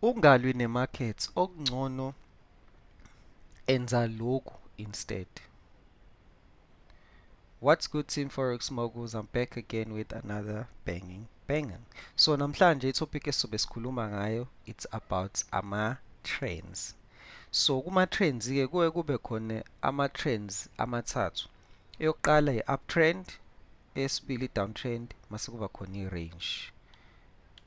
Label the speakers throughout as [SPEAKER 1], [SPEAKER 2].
[SPEAKER 1] Ungalwi ne markets okungcono enza lokhu instead. What's good team forex moguls I'm back again with another banging banging. So namhlanje i topic esizobe sikhuluma ngayo it's about ama trends. So kuma trends ke kuwe kube khona ama trends amathathu. Eyokuqala i uptrend, esibili downtrend, mase kuba khona i range.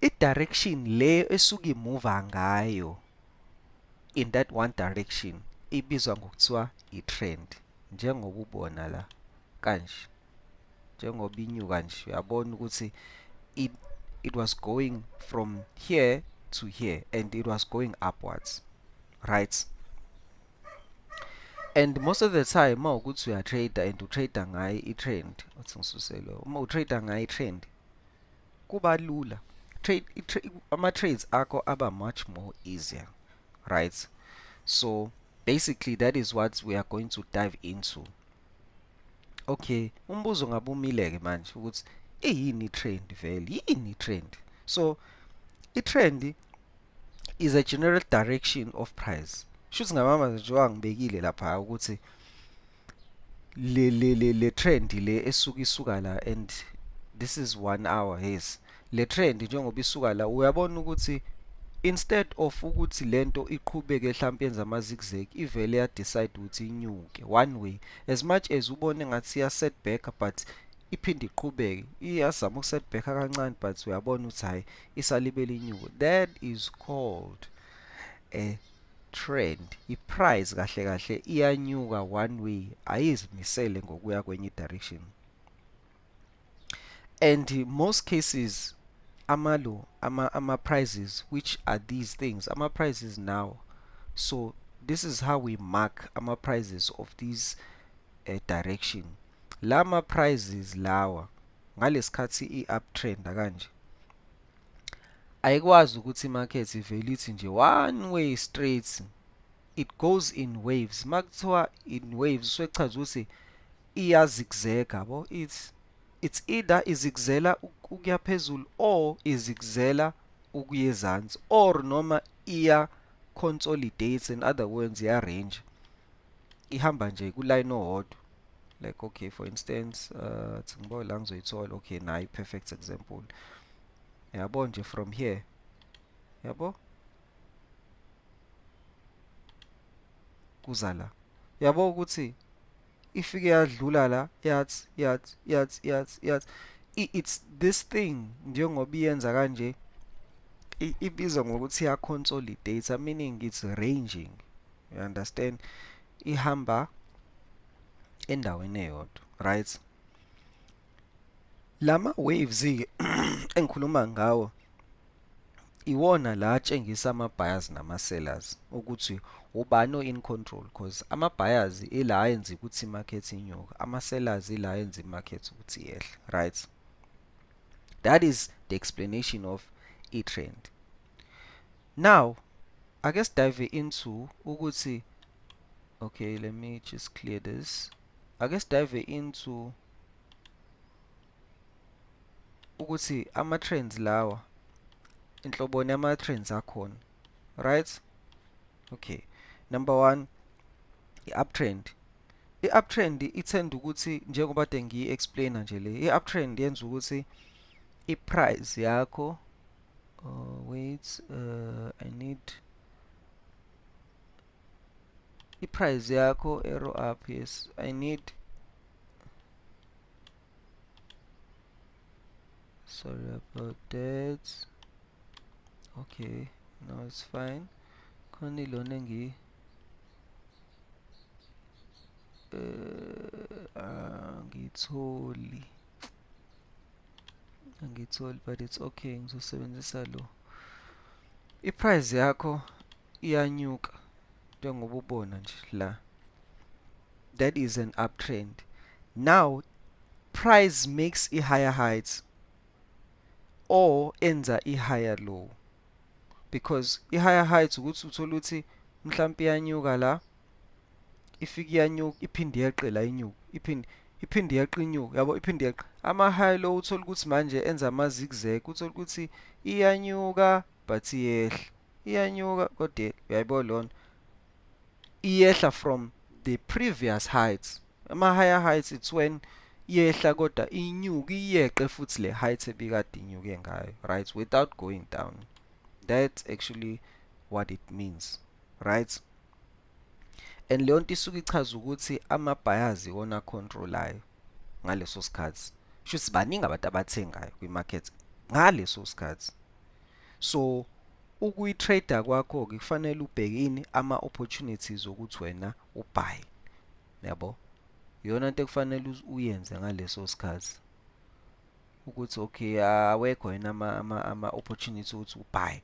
[SPEAKER 1] i-direction le esuke imuva ngayo in that one direction ibizwa ngokuthiwa i-trend njengoba ubona la kanje njengoba inyuka nje uyabona ukuthi it, it was going from here to here and it was going upwards right and most of the time uma ukuthi uyatrader and utrader ngayo i-trend uthi ngisuselo uma utrader ngayo i-trend kuba lula trade ama trades akho aba much more easier right so basically that is what we are going to dive into okay umbuzo ngabumile ke manje ukuthi iyini trend vele yini trend so i trend is a general direction of price shuthi ngamama njengoba ngibekile lapha ukuthi le le le le trend le esuka isuka la and this is one hour yes le trend njengoba isuka la uyabona ukuthi instead of ukuthi lento iqhubeke mhlawumbe yenza ama zigzag ivele ya decide ukuthi inyuke one way as much as ubone ngathi ya setback but iphinde iqhubeke iyazama ukusetback kancane but uyabona ukuthi hayi isalibele inyuke that is called eh trend iprice kahle kahle iyanyuka one way ayizimisele ngokuya kwenye direction and most cases amalo ama ama prices which are these things ama prices now so this is how we mark ama prices of these uh, direction lama prices lawa ngalesikhathi i uptrend kanje ayikwazi ukuthi imarket ivele ithi nje one way straight it goes in waves makuthiwa in waves usuchaza ukuthi iyazigzega yabo it's it's either izigzela ukuya phezulu or izigzela ukuya ezansi or noma iya consolidates in other words ya range ihamba nje kuline owodwa like okay for instance uh athi ngibawe la ngizoyithola okay nayi perfect example yabo nje from here yabo kuza la yabo ukuthi ifike yadlula la yathi yathi yathi yathi yathi it's this thing njengoba iyenza kanje ibizwa ngokuthi ya consolidate meaning it's ranging you understand ihamba endaweni eyodwa right lama waves ke engikhuluma ngawo iwona la atshengisa ama buyers nama sellers ukuthi ubani o in control because ama buyers ila ayenza ukuthi market inyuka ama sellers ila ayenza i market ukuthi yehle right that is the explanation of i trend now ake sidive into ukuthi okay let me just clear this ake sidive into ukuthi ama trends lawa inhloboni ama trends akhona right okay number 1 i uptrend i uptrend ithenda ukuthi njengoba de ngiyi explainer nje le i uptrend yenza ukuthi i price yakho uh, wait uh, i need iprice yakho arrow up yes i need sorry about that okay now it's fine khona ilona engi uh, angitholi uh, angitholi but it's okay ngizosebenzisa lo iprice yakho iyanyuka njengoba ubona nje la that is an uptrend now price makes a higher heights or enza a higher low because i higher heights ukuthi uthola ukuthi mhlawumbe iyanyuka la ifike iyanyuka iphinde yeqe la inyuka iphinde iphinde yeqe inyuka yabo iphinde yeqe ama-high low uthole ukuthi manje enza ama-zigzag uthole ukuthi iyanyuka but iyehla iyanyuka kodwa uyayibo lona iyehla from the previous heights ama-higher heights it's when yehla kodwa inyuka iyeqe futhi le height ebikade inyuke ngayo right without going down that's actually what it means right and leyo nto isuke ichaza ukuthi ama-buyers iwona acontrolayo ngaleso sikhathi sho ukuthi baningi abantu abathengayo kwi-market ngaleso sikhathi so ukuyi-trader kwakho-ke kufanele ubheke ini ama-opportunities okuthi wena ubhaye yabo iyona nto ekufanele uyenze ngaleso sikhathi ukuthi okay awekho yena ama ama ama opportunity ukuthi ubhaye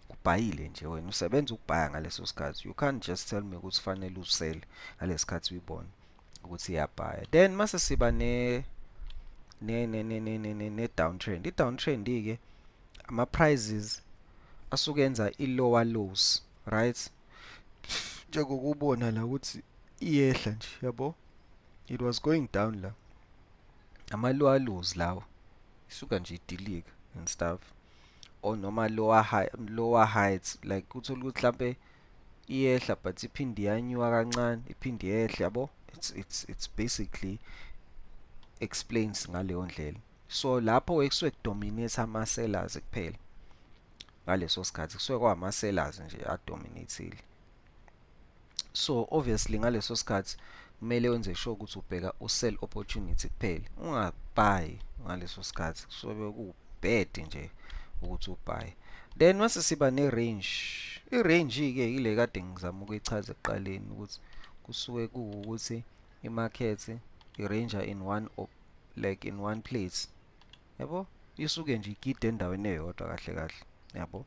[SPEAKER 1] ubhayile nje wena usebenza ukubhaya ngaleso sikhathi you can't just tell me ukuthi fanele usele ngalesikhathi uyibona ukuthi iyabhaya then mase siba ne ne ne ne ne ne ne downtrend i downtrend ke ama prices asuke enza i lower lows right njengokubona la ukuthi iyehla nje yabo it was going down la amalwaluzi lawo isuka nje idilika and stuff or noma lower high lower heights like uthola ukuthi mhlambe iyehla but iphinde yanyuka kancane iphinde yehle yabo it's it's it's basically explains ngaleyo ndlela so lapho ekusuke kudominate ama sellers kuphela ngaleso sikhathi kusuke kwama sellers nje adominateile so obviously ngaleso sikhathi kumele wenze sure ukuthi ubheka usell opportunity kuphela ungabhayi ngaleso sikhathi kusobe kubed nje ukuthi ubhaye then mase siba ne-range i-range-ke ile kade ngizama ukuyichaza ekuqaleni ukuthi kusuke kuwukuthi i-market i-ranger in one op, like in one place yabo isuke nje igide endaweni eyodwa kahle kahle yabo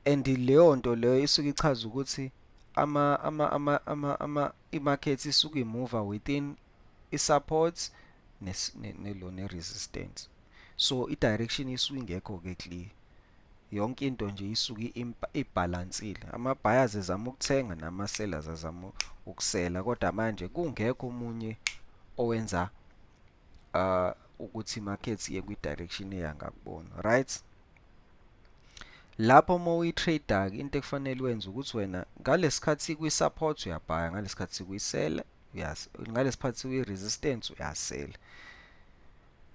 [SPEAKER 1] and leyo nto leyo isuke ichaza ukuthi ama ama ama ama ama imarket isuke imuva within isupport nelo ne resistance so i direction isuke ingekho ke clear yonke into nje isuke ibalansile ama buyers ezama ukuthenga nama sellers azama ukusela kodwa manje kungekho omunye owenza uh, ukuthi market iye kwi-direction eya ngakubona right lapho uma uyi-trader-ke into ekufanele wenze ukuthi wena ngalesikhathi kwi-support uyabhaya ngalesikhathi kuyisela ngalesikhathi kwi-resistance uyasela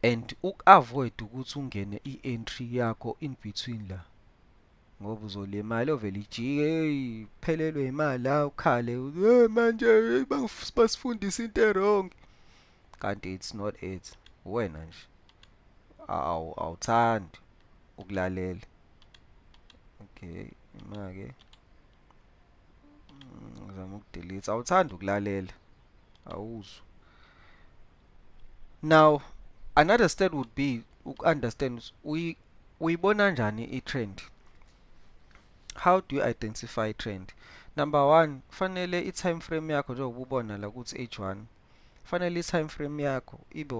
[SPEAKER 1] and uku-avoid ukuthi ungene i-entry yakho in between la ngoba uzolimala ovele ijike eyi phelelwe imali la ukhale manje basifundisa into erong kanti it's not it uwena nje awu awuthandi ukulalela okay imake ngizama mm, ukudelete awuthandi ukulalela awuzwa now another step would be uku-understand uyibona njani i-trend how do you identify trend number one kufanele i-time frame yakho njengoba ubona la ukuthi h1 fanele i-time frame yakho ibe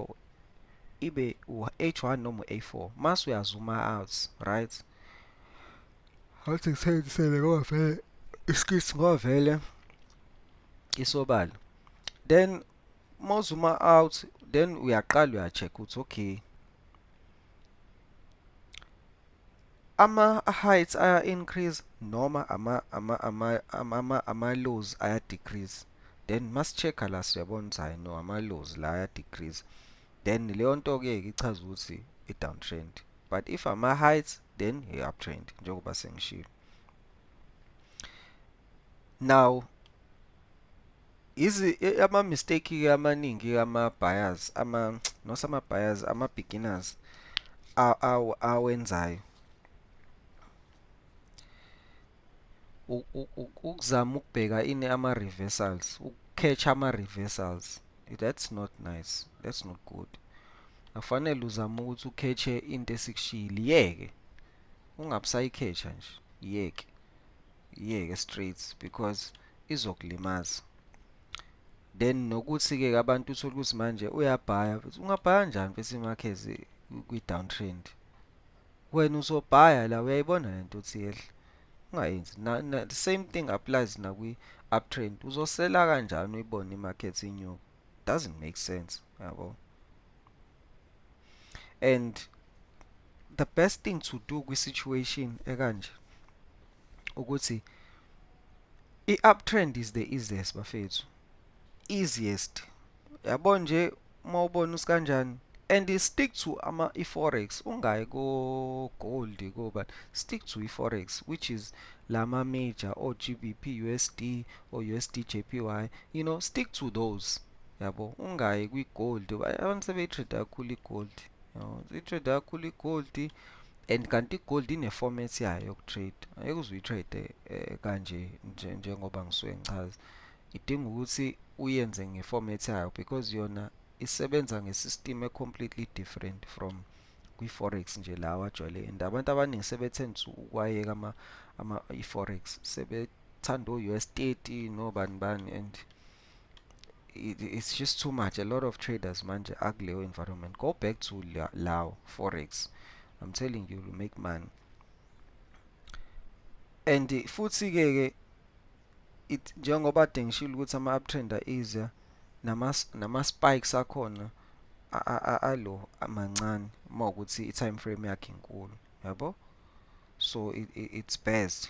[SPEAKER 1] ibe u-h1 noma u-a4 mase uyazuma out right ngathi ngisebenzisele ngoba vele iskits ngoba vele isobala then mozuma out then uyaqala uya-check ukuthi okay ama heights aya increase noma ama ama ama ama ama lows aya decrease then mas check la siyabona ukuthi hayi no ama lows la aya decrease then leyo nto ke ichaza ukuthi i downtrend but if ama heights then i uptrend njengoba sengishilo now Izi e- ama mistake ke amaningi ke ama buyers ama not ama buyers ama beginners a- aw- awenzayo U- u- u- ukuzama ukubheka ini ama reversals ukuketch ama reversals that's not nice that's not good akufanele uzame ukuthi ukhethe into esikushiyile yeke ungabusayikhetha nje yeke yeke straight because izokulimaza then nokuthi ke abantu uthole ukuthi manje uyabhaya ungabhaya kanjani bese imakhezi kwi downtrend wena uzobhaya la uyayibona lento uthi yehla ungayenzi na, na the same thing applies nakwi uptrend uzosela kanjani uyibone imarket inyuka doesn't make sense yabo and the best thing to do kwi situation ekanje ukuthi i uptrend is the easiest bafethu easiest yabo nje uma ubona usikanjani and stick to ama iforex ungayi ko gold ko but stick to iforex which is lama major or GBP USD or USD JPY you know stick to those yabo ungayi kwi gold abantu sebetrade kakhulu i gold yabo i-trade kakhulu i-gold and kanti i-gold ine-format yayo yoku-trade ayeke uze uyi-trade eh, kanje njengoba ngisuke ngichaza idinga ukuthi uyenze nge-format yayo because yona isebenza nge-system e-completely different from kwi-forex nje la wajwayele and abantu abaningi sebethanda ukwayeka ama, ama i-forex sebethanda o-us 30 nobani bani and it, it's just too much a lot of traders manje akuleyo environment go back to lawo forex i'm telling you you make money and futhi ke ke it njengoba dengishilo ukuthi ama uptrend iza nama nama spikes akhona alo amancane uma ukuthi i time frame yakhe inkulu yabo so it, it, it's best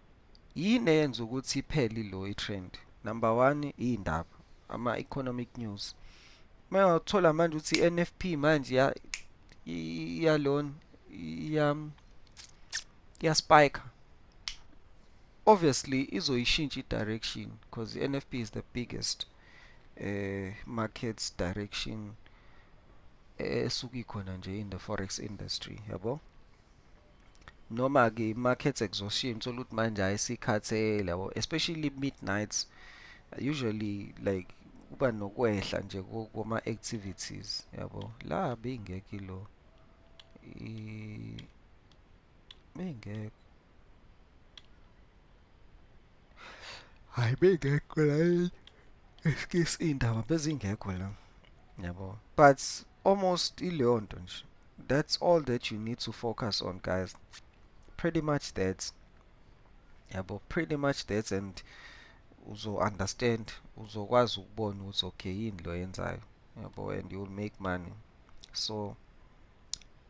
[SPEAKER 1] Yini eyenza ukuthi iphele ilo i-trend? Number one iy'ndaba, ama-economic news. Uma wathola manje ukuthi i-NFP manje iyalona iyaspayikha obviously izoyishintsha i-direction because i-NFP is the biggest uh, market direction esuke ikhona nje in the forex industry yabo yeah, noma ke market exhaustion thola ukuthi manje hayi sikhathele yabo especially midnights usually like kuba nokwehla nje kuma activities yabo la beyingekho lo beyingekho hayi bengekho la eskisi iy'ndaba bezingekho la yabo but almost ileyo nto nje that's all that you need to focus on guys pretty much that yabo pretty much that and uzo-understand uzokwazi ukubona ukuthi okay yini lo yenzayo yabo and you'll make money so